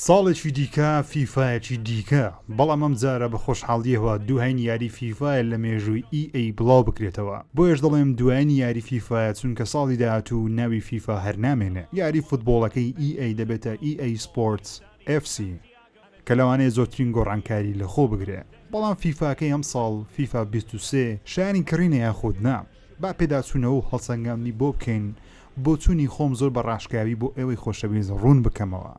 ساڵێکی دیکە فیفایەکی دیکە بەڵام ئەم جارە بە خۆشحاڵیەوە دووهین یاری فیفاە لە مێژووی ئیئەی بڵاو بکرێتەوە بۆیەش دەڵێم دوایین یاری فیفایە چونکە ساڵی داهاتوو ناوی فیفا هەر نامێنێ یاری فوتبۆڵەکەی ئیئەی دەبێتە ئیئەی سپۆرتس ئێف سی کە لەوانەیە زۆرترین گۆڕانکاری لەخۆ بگرێ بەڵام فیفاکەی ئەمساڵ فیفا بیست و سێ شایەنی کڕینە یاخود نا؟ با پێداچوونەوە و هەڵسەنگاندنی بۆ بکەین، بۆچوونی خۆم زۆر بە ڕاشکاوی بۆ ئێوەی خۆشەویست ڕوون بکەمەوە.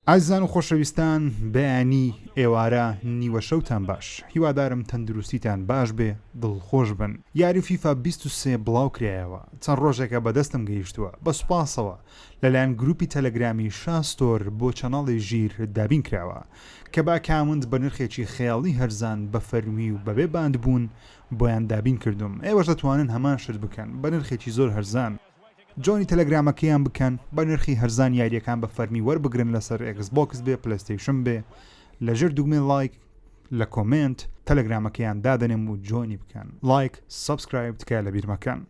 ئازیزان و خۆشەویستان، بەیانی، ئێوارە، نیوە شەوتان باش. هیوادارم تەندروستیتان باش بێ، دڵخۆش بن. یاری فیفا بیست و سێ بڵاو کرایەوە، چەند ڕۆژێکە بە دەستم گەیشتووە، بە سوپاسەوە لەلایەن گرووپی تەلەگرامی شا ستۆر بۆ چەناڵی ژیر دابین کراوە، کە بە ئەکاونت بە نرخێکی خەیاڵی هەرزان بە فەرمی و بەبێ باندبوون بۆیان دابین کردووم ئێوەش دەتوانن هەمان شت بکەن بە نرخێکی زۆر هەرزان. جۆینی تەلەگرامەکەیان بکەن بە نرخی هەرزان یاریەکان بە فەرمی وەربگرن لەسەر ئێکس بۆکس بێ پلەیستەیشن بێ لە ژێر دوگمەی ڵایک لە کۆمێنت تەلەگرامەکەیان دادەنێم و جۆینی بکەن ڵایک سەبسکرایب تکایە لەبیر مەکەن.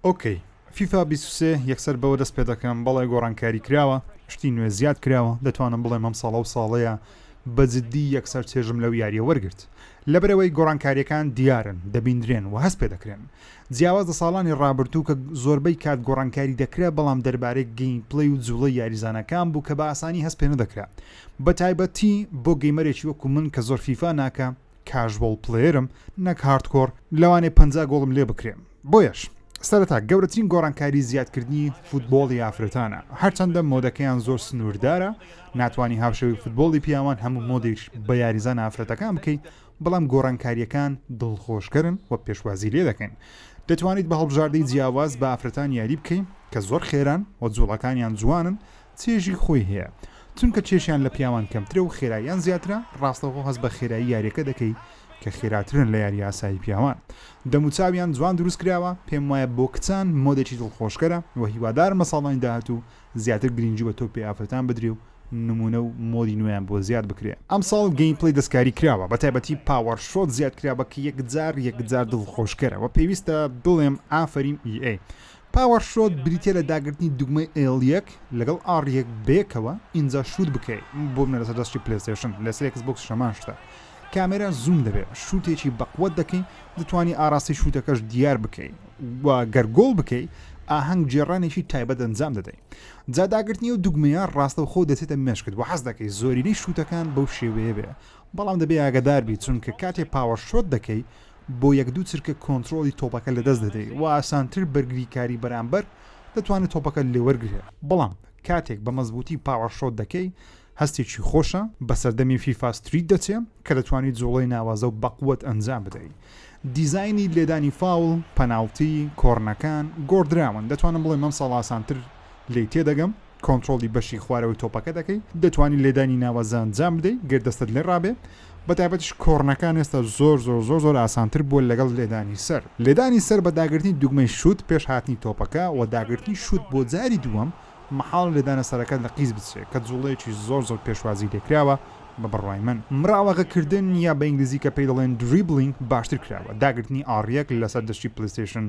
ئۆکەی فیفا بیست و سێ یەکسەر بەوە دەست پێ دەکەم بەڵێ گۆڕانکاری کراوە شتی نوێ زیاد کراوە دەتوانم بڵێم ئەم ساڵە و ساڵەیە بە جددی یەکسەر چێژم لەو یاریە وەرگرت لەبەرەوەی گۆڕانکاریەکان دیارن دەبیندرێن و هەست پێ دەکرێن جیاواز لە ساڵانی ڕابردوو کە زۆربەی کات گۆڕانکاری دەکرا بەڵام دەربارەی گەین پلەی و جوڵی یاریزانەکان بوو کە بە ئاسانی هەست پێ نەدەکرا بە تایبەتی بۆ گەیمەرێکی وەکو من کە زۆر فیفا ناکە کاژوەڵ پلەیەرم نەک هاردکۆر لەوانەیە پەنجا گۆڵم لێ بکرێ بۆیەش سەرەتا گەورەترین گۆڕانکاری زیادکردنی فوتبۆڵی ئافرەتانە هەرچەندە مۆدەکەیان زۆر سنووردارە ناتوانانی هاوشەوی فوتبۆڵی پیاوان هەموو مۆدیش بە یاریزان ئافرەتەکان بکەیت بەڵام گۆڕانکاریەکان دڵخۆشکەرن و پێشوازی لێ دەکەن دەتوانیت بە هەڵبژاردەی جیاواز بە ئافرەتان یاری بکەین کە زۆر خێران و جوڵەکانیان جوانن چێژی خۆی هەیە چونکە کێشیان لە پیاوان کەمترە و خێراییان زیاترە، ڕاستەوخۆ هەست بە خێرایی یاریەکە دەکەی کە خێراترن لە یاری ئاسایی پیاوان دەموچاویان جوان دروست کراوە پێم وایە بۆ کچان مۆدێکی دڵخۆشکەرە و هیوادارم لە ساڵانی داهاتوو زیاتر گرینگی بە تۆپی ئافرەتان بدرێ و نمونە و مۆدی نوێیان بۆ زیاد بکرێ. ئەمساڵ گەیمپلەی دەستکاری کراوە بەتایبەتی پاوەر شۆت زیاد کراوە کە یەکجار یەکجار دڵخۆشکەرە وە پێویستە بڵێم ئافەریم EA پاوەر شۆت بریتیە لە داگرتنی دوگمەی ئێڵ یەک لەگەڵ ئاڕ یەک بەیەکەوە ئینجا شوت بکەی بۆ بنە لەسەر دەستی پلەیستەیشن لەسەر ئێکس بۆکسیش هەمان شتە کامێرا زووم دەبێ شوتێکی بەقوەت دەکەی دەتوانی ئاڕاستی شوتەکەش دیار بکەی و گەر گۆڵ بکەی ئاهەنگ گێڕانێکی تایبەت ئەنجام دەدەی جا داگرتنی و دوگمەیە ڕاستەوخۆ دەچێتە مێشکت و حەز دەکەی زۆرینەی شوتەکان بەو شێوەیە بێ بەڵام دەبێ ئاگەدار بی چونکە کاتێ پاوەر شۆت دەکەی بۆ یەک دوو چرکە کۆنترۆڵی تۆپەکە لەدەست دەدەی و ئاسانتر بەرگریکاری بەرامبەر دەتوانێت تۆپەکە لێوەرگرێت، بەڵام کاتێک بە مەزبووتی پاوەر شۆت دەکەی هەستێکی خۆشە، بە سەردەمی فیفا ستریت دەچێ کە دەتوانی جوڵەی ناوازە و بەقوەت ئەنجام بدەی. دیزاینی لێدانی فاوڵ، پەناڵتی، کۆرنەکان گۆڕدراون، دەتوانم بڵێم ئەمساڵ ئاسانتر لێی تێدەگەم. کۆنترۆڵی بەشی خوارەوەی تۆپەکە دەکەی دەتوانی لێدانی ناوازە ئەنجام بدەی گەر دەستت لێ ڕابێ بە تایبەتیش کۆڕنەکان ئێستا زۆر زۆر زۆر زۆر ئاسانتر بووە لەگەڵ لێدانی سەر لێدانی سەر بە داگرتنی دوگمەی شووت پێش هاتنی تۆپەکە و داگرتنی شووت بۆ جاری دووەم مەحاڵە لێدانە سەرەکەت لە قیز بچێ کە جوڵەیەکی زۆر زۆر پێشوازی لێکراوە بە بڕوای من مراوەغە کردن یا بە ئینگلیزی کە پێی دەڵێن دریبلینگ باشتر کراوە داگرتنی ئاڕیەک لەسەر دەشتی پلەیستەیشن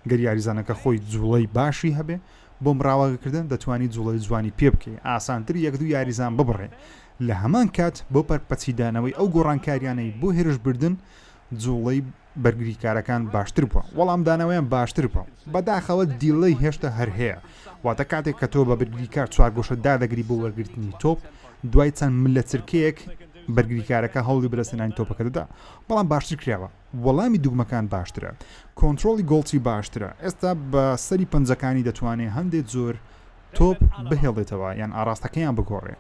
گەر یاریزانەکە خۆی جوڵەی باشی هەبێ بۆ مراوەگەکردن دەتوانی جوڵەی جوانی پێ بکەی، ئاسانتر یەک دوو یاریزان ببڕێ، لە هەمان کات بۆ پەرپەچیدانەوەی ئەو گۆڕانکاریانەی بۆ هێرش بردن جوڵەی بەرگریکارەکان باشتر بووە، وەڵامدانەوەیان باشتر بووە، بەداخەوە دیلەی هێشتا هەر هەیە، واتە کاتێک کە تۆ بە بەرگریکار چوارگۆشە دادەگری بۆ وەرگرتنی تۆپ، دوای چەند ملەچرکەیەک بەرگریکارەکە هەوڵی بەدەستهێنانی تۆپەکە دەدا، بەڵام باشتر کراوە. وەڵامی دوگمەکان باشترە کۆنترۆڵی گۆڵچی باشترە ئێستا بە سەری پەنجەکانی دەتوانێ هەندێ جۆر تۆپ بهێڵێتەوە یان ئاراستەکەیان بگۆڕێ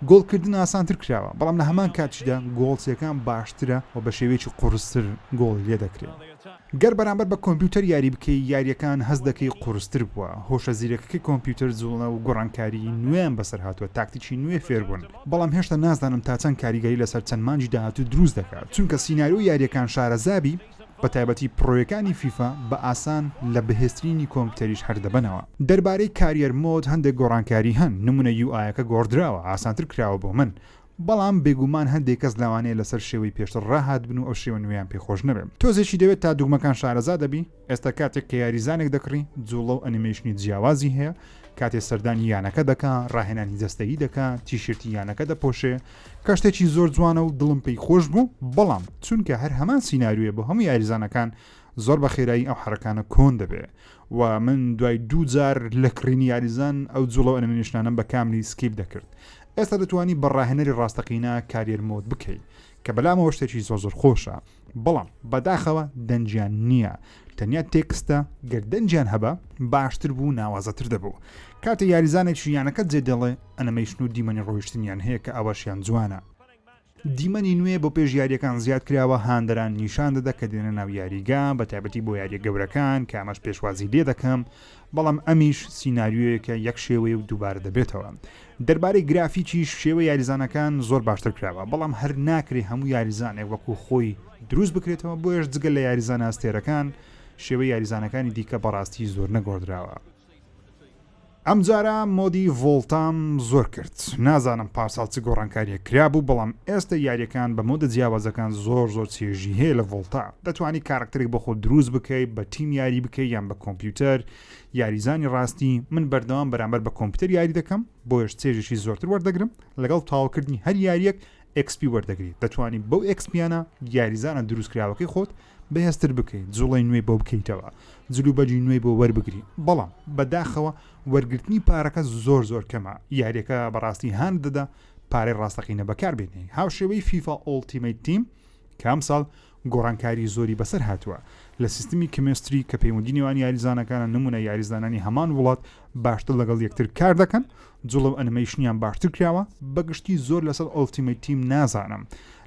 گۆڵکردن ئاسانتر کراوە بەڵام لە هەمان کاتیشدا گۆڵچیەکان باشترە و بە شێوەیەکی قورستر گۆڵی لێ دەکرێت گەر بەرامبەر بە کۆمپیوتەر یاری بکەی یاریەکان هەست دەکەی قورستر بووە هۆشە زیرەکەکەی کۆمپیوتەر جوڵە و گۆڕانکاری نوێیان بەسەر هاتووە تاکتیکی نوێ فێربوون بەڵام هێشتا نازانم تا چەند کاریگەری لەسەر چەند مانگی داهاتوو دروست دەکات، چونکە سیناریۆی یارییەکان شارەزابی، بەتایبەتی پڕۆیەکانی فیفا بە ئاسان لە بەهێزترینی کۆمپیوتەریش هەر دەبەنەوە. دەربارەی کاریەر مۆد هەندێک گۆڕانکاری هەن، نموونە یو ئایەکە گۆڕدراوە، ئاسانتر کراوە بۆ من، بەڵام بێگومان هەندێک کەس لەوانەیە لەسەر شێوەی پێشتر ڕاهاتبن و ئەو شێوە نوێیان پێخۆش نەبێت. تۆزێکی دەوێت تا دوگمەکان شارەزا دەبی. ئێستا کاتێک کە یاریزانێک دەکڕی جوڵە و ئەنیمەیشنی جیاوازی هەیە کاتێ سەردانی یانەکە دەکا ڕاهێنانی جەستەیی دەکا تیشرتی یانەکە دەپۆشێ کە شتێکی زۆر جوانە و دڵم پێی خۆش بوو بەڵام چونکە هەر هەمان سیننارویە بۆ هەموو یاریزانەکان زۆر بە خێرایی ئەو حرەکانە کۆن دەبێ و من دوای دوو جار لە کڕینی یاریزان ئەو جوڵە ئەنمێشنانم بە کاملی سکیپ دەکرد ئێستا دەتوانی بە ڕاهێنەری ڕاستەقینە کاریەر مۆت بکەیت کە بەلامەوە شتێکی زۆر زۆر خۆشە بەڵام بەداخەوە دەنجیان نییە تەنیا تێکستە گەر دەنجیان هەبە باشتر بوو ناوازەتر دەبوو کاتێ یاریزانێکی یانەکە جێ دەڵێ ئەنەمەیشن و دیمەنی ڕۆیشتنیان هەیە کە ئەوەشیان جوانە دیمەنی نوێ بۆ پێش یاریەکان زیاد کراوە هاندەران نیشان دەدا کە دێنە ناو یاریگا بە تایبەتی بۆ یاریە گەورەکان کامەش پێشوازی لێ دەکەم بەڵام ئەمیش سیناریۆیەکە یەک شێوەیە و دووبارە دەبێتەوە دەربارەی گرافیکیش شێوە یاریزانەکان زۆر باشتر کراوە بەڵام هەر ناکرێ هەموو یاریزانێک وەکو خۆی دروست بکرێتەوە بۆیش جگە لە یاریزانە ئەستێرەکان شێوە یاریزانەکانی دیکە بەڕاستی زۆر نەگۆدراوە ئەمجارە مۆدی ڤۆڵتام زۆر کرد نازانم پارساڵ چ گۆڕانکاریە کرابوو بەڵام ئێستا یاریەکان بە مۆدە جیاوازەکان زۆر زۆر چێژی هەیە لە ڤۆڵتا دەتوانی کاراکتەرێک بۆ خۆت دروست بکەی بە تیم یاری بکەی یان بە کۆمپیوتەر یاریزانی ڕاستی من بەردەوام بەرامبەر بە کۆمپیوتەر یاری دەکەم بۆیش چێژێکی زۆرتر وەردەگرم لەگەڵ تاوکردنی هەر یاریەک ئەکسپی وەردەگری دەتوانی بەو ئەکسپیانە یاریزانە دروستکراوەکەی خۆت بەهێزتر بکەیت جوڵی نوێی بۆ بکەیتەوە جلو بەجی نوێی بۆ وەربگری بەڵام بەداخەوە وەرگرتنی پارەکە زۆر زۆر کەمە یاریەکە بەڕاستی هاند دەدا پارەی ڕاستەقینە بەکار بێنێ هاوشێوەی فیفا ئۆڵتیمەی تیم کە ئەمساڵ گۆڕانکاری زۆری بەسەر هاتووە لە سیستمی کمیستری کە پەیوەندی نێوان یاریزانەکانە نمونە یاریزانانی هەمان وڵات باشتر لەگەڵ یەکتر کار دەکەن جوڵە و ئەنمەیشنیان باشتر کراوە بەگشتی زۆر لەسەر ئۆلتیمەی تیم نازانم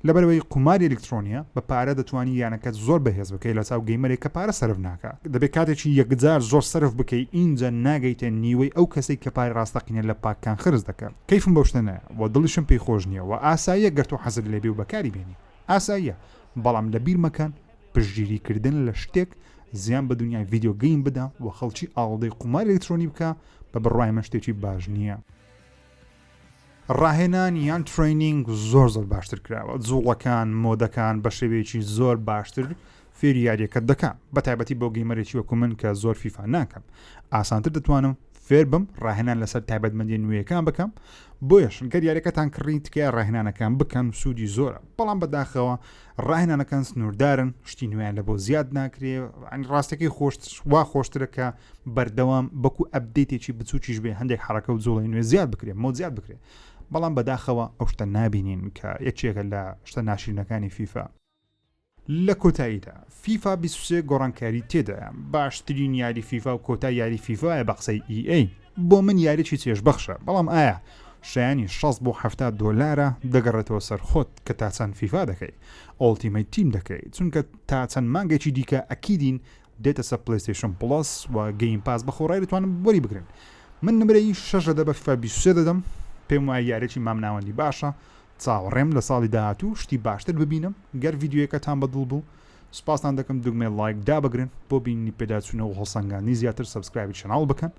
لەبەرەوەی قوماری ئەلکترۆنیە بە پارە دەتوانی یانەکەت زۆر بەهێز بکەی لە چاو گەیمەرێک کە پارە سرف ناکە دەبێت کاتێکی یەکجار زۆر سرف بکەی ئینجا ناگەیتە نیوەی ئەو کەسێک کە پارە ڕاستەقینە لە پاککان خرج دەکە کەیفم بەو شتە نایە و دڵیشم پێی خۆش نییە و ئاساییە گەر تۆ حەزت لێبێ و بەکاری بێنی ئاساییە بەڵام لەبیر مەکەن پشتگیری کردن لە شتێک زیان بە دونیای ڤیدیۆ گەیم بدا و خەڵکی ئاڵودەی قوماری ئەلکترۆنی بکا بە بڕوای من شتێکی باش نییە. ڕاهێنان یان ترەینینگ زۆر زۆر باشتر کراوە جووڵەکان مۆدەکان بە شێوەیەکی زۆر باشتر فێری یاریەکەت دەکا بە تایبەتی بۆ گەیمەرێکی وەکو من کە زۆر فیفا ناکەم ئاسانتر دەتوانم فێر بم ڕاهێنان لەسەر تایبەتمەندی نوێیەکان بکەم بۆیش گەر یاریەکەتان کڕی تکای ڕاهێنانەکان بکەن سوودی زۆرە بەڵام بەداخەوە ڕاهێنانەکان سنووردارن شتی نوێیان لە بۆ زیاد ناکرێ ئەنی ڕاستەکەی خۆشت وا خۆشترە کە بەردەوام بەکو ئەبدەیتێکی بچووکیش بێ هەندێک حرەکە و جوڵی نوێ زیاد بکرێ مۆ زیاد بکرێ بەڵام بەداخەوە ئەو شتە نابینین کە یەکێکە لە شتە ناشرینەکانی فیفا لە کۆتاییدا فیفا بیست و سێ گۆڕانکاری تێدایە باشترین یاری فیفا و کۆتا یاری فیفاە بە قسەی EA بۆ من یاریی چێژبەخشە بەڵام ئایا شایانی 6 بۆ ه دۆلارە دەگەڕێتەوە سەرخۆت کە تا چەند فیفا دەکەی ئۆڵتیمەی تیم دەکەی چونکە تا چەند مانگێکی دیکە ئەکیدین دێتە سە پلیستیشن پڵس و گەیم پاس بەخۆڕای دەتوانن بۆری بگرن من نمرەی شەش لە دە بە فیفا 23 دەدەم پێم وایە یارێکی مامناوەندی باشە چاوەڕێم لە ساڵی داهاتوو شتی باشتر ببینم گەر ڤیدیۆیەکەتان بە دڵ بوو سوپاستان دەکەم دوگمەی ڵایک دابگرن بۆ بینینی پێداچوونەوە هەڵسەنگاندنی زیاتر سەبسکرایبی چەناڵ بکەن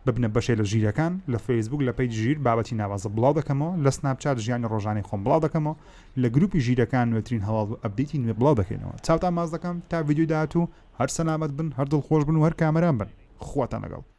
ببنە بەشێ لە ژیرەکان لە فەیسبووک لە پەیج ژیر بابەتی ناوازە بڵاو دەکەمەوە لە سناپچات ژیانی ڕۆژانەی خۆم بڵاو دەکەمەوە لە گروپی ژیرەکان نوێترین هەواڵ و ئەپدەیتی نوێ بڵاو دەکەینەوە چاوتان ماز دەکەم تا ڤیدیۆی داهاتوو هەر سەلامەت بن هەر دڵخۆش بن و هەر کامەران بن خواتان لەگەڵ